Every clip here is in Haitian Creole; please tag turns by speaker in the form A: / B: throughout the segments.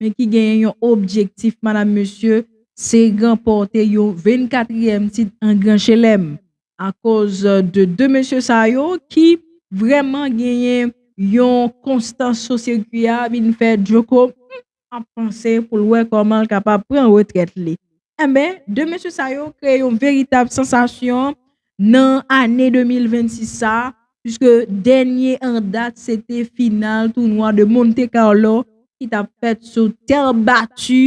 A: men ki genyen yon objektif madam mesye se ranpòte yon 24 ièm tit an gran chelèm akoz de 2 mesye sa yo ki vrèman genyen yon konstans sou sirkwi a vin fè Djoko humm ap panse pou l wè kòman l kapab pran retrèt li enben 2 mesye sa yo kreye yon veritab sansasyon nan ane 2026 sa, puiske dènye an dat se te final tounwa de Monte Carlo ki tap fèt sou tè bati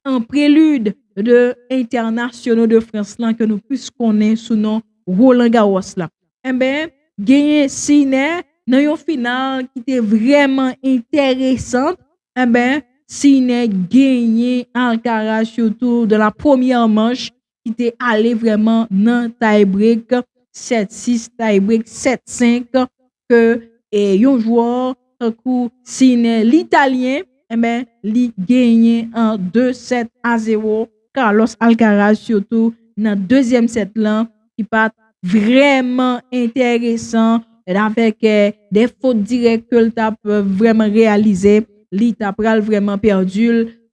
A: an prelid de entènasyono de Frans lan ke nou plis konnen sou non Roland Garros la. Enben, genyen Sinner nan yon final ki te vrèman entèresant, enben Sinner genyen Alcaraz sou tou de la premyè manch ki te ale vrèman nan tay brek 7 6 tay brek 7 5 ke yon jwè tankou Sinè l'italyen enben li genyen 2 sèt a 0 Carlos Alcaraz sitou nan dezyèm sèt lan ki pat vrèman enteresan avèk de fot dirèk ke l tap vrèman reyalize li ta pral vrèman pèdi l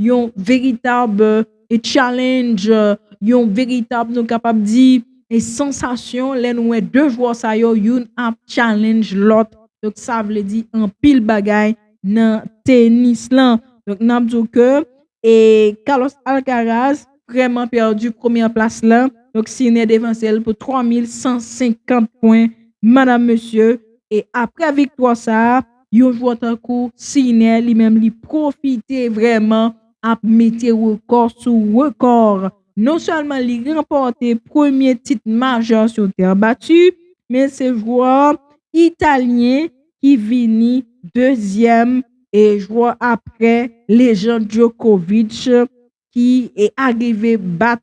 A: yon veritab e challenge, yon veritab nou kapab di e sansasyon lè nou wè 2 jwè sa yo youn ap challenge lòt. Donk sa vle di anpil bagay nan tenis lan. Donk n ap di w ke e Carlos Alcaraz vrèman pèdi premyè plas la. Donk Sinner devanse l pou 3150 pwen. Madam mesye e aprè viktwa sa a. Yon jwè tankou Sinè li menm li pwofite vrèman ap mete rekò sou rekò. Non sèlman li ranpòte premye tit majè sou tè bati, men se jwè Italyen ki vini dezyèm jwè aprè lejand Djokovic ki arive bat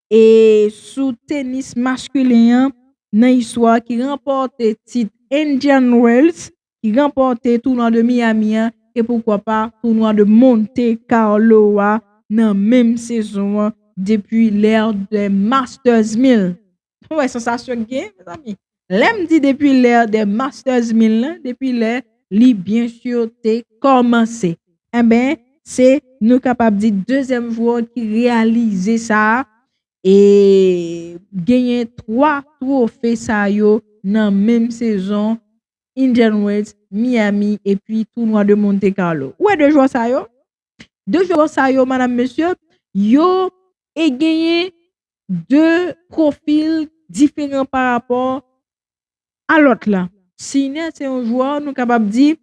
A: e sou tenis maskulen an nan istwa ki ranpòte tit Indian Wells, ki ranpòte tounwa de Miami an e poukwa pa tounwa de Monte Carlo a nan menm sezon an depi l'ère des Masters 1000. Ou wè sansasyon k gen mezanmi. Lè m di depi l'ère des masters mil lan, depi lè li byen sur te kòmanse. Enben, se nou kapab di dezyèm jwè ki reyalize sa a e genyen 3 twofe sa yo nan menm sezon Indian Wells, Miami epi tounwa de Monte Carlo. Ou wè 2 jwè sa yo? 2 jwè sa yo madam mesye yo e genyen 2 profil diferan pa rapò a lòt la. Sine se yon jwè nou kapab di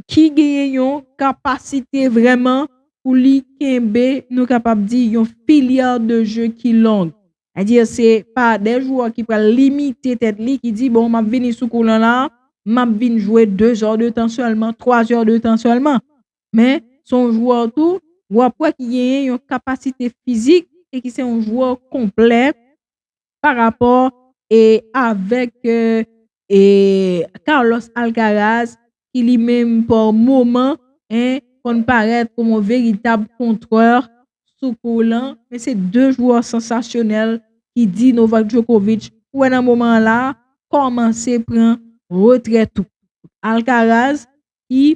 A: ki genyen yon kapasite vrèman pou li kenbe nou kapab di yon filya de jwè ki long. A di se pa de jwè ki pral limite tèt li ki di bon map vini sou kou lan la map vin jwè 2 zò de tan sèlman, 3 zò de tan sèlman. men se yon jwè tou wap wè ki genyen yon kapasite fizik e ki se yon jwè konplè pa rapò e avèk e Carlos Alcaraz ki li menm pa moman e konn parèt kòm yon veritab kontrè sou kou lan men se 2 jwè sansasyonèl ki di Novak Djokovic ou wè nan moman an la kòmanse pran retrè tou Alcaraz ki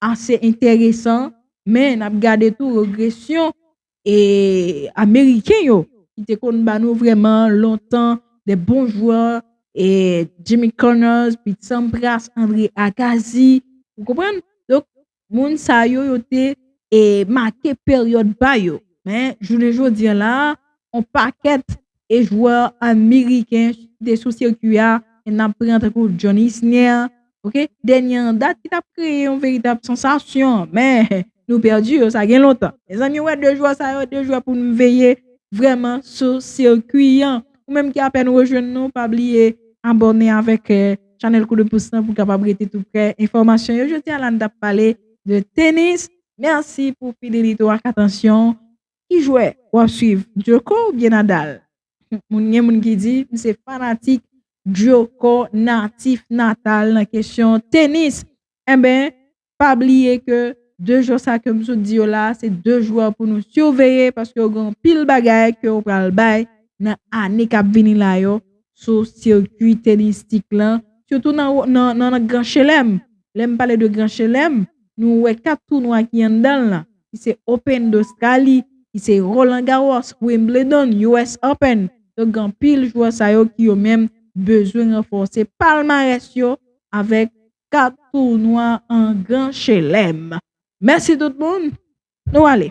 A: ase enteresan, men n ap gade tou regresyon e ameriken yo ki te konn ba nou vrèman lontan de bon jwè e Jimmy Connors, Pete Sampras, Andre Agassi, ou konprann? Donk, moun sa yo yo te e make peryòd pa yo. Men, jounen jodi an la a, on pakèt e jwè ameriken chute sou sirkwi a e n ap pran tankou John Isner ok dènye an dat ki t ap kreye yon veritab sansasyon men nou pèdi yo sa gen lontan mezanmi wè 2 jwè sa yo 2 jwè pou nou veye vrèman sou sirkwi an ou menm ki apèn rejwenn nou pa bliye abòne avèk chanèl kou 2 pous lan pou w kapab rete tou prè enfòmasyon yo jodi a la n t ap pale de tenis mèsi pou fidelite w ak atansyon w. Ki jwè wap swiv Djoko oubyen Nadal? Moun gen moun ki di m se fanatik Djoko natif natal nan kesyon tenis enben pa bliye ke 2 jwè sa ke m sot di yo la se 2 jwè pou nou siveye paske yo gen anpil bagay ke yo pral bay nan ane kap vini la yo sou sikwi tenistik lan sitou nan gran chelèm lè m pale de gran chelèm nou wè 4 tounwa ki anndan l lan. ki se Open Dostrali, ki se Roland Garros, Wimbledon, US Open. Donk gen anpil jwè sa yo ki yo menm bezwen ranfòse palmarès yo avèk 4 tounwa an gran chelèm. Mèsi tout moun, nou ale!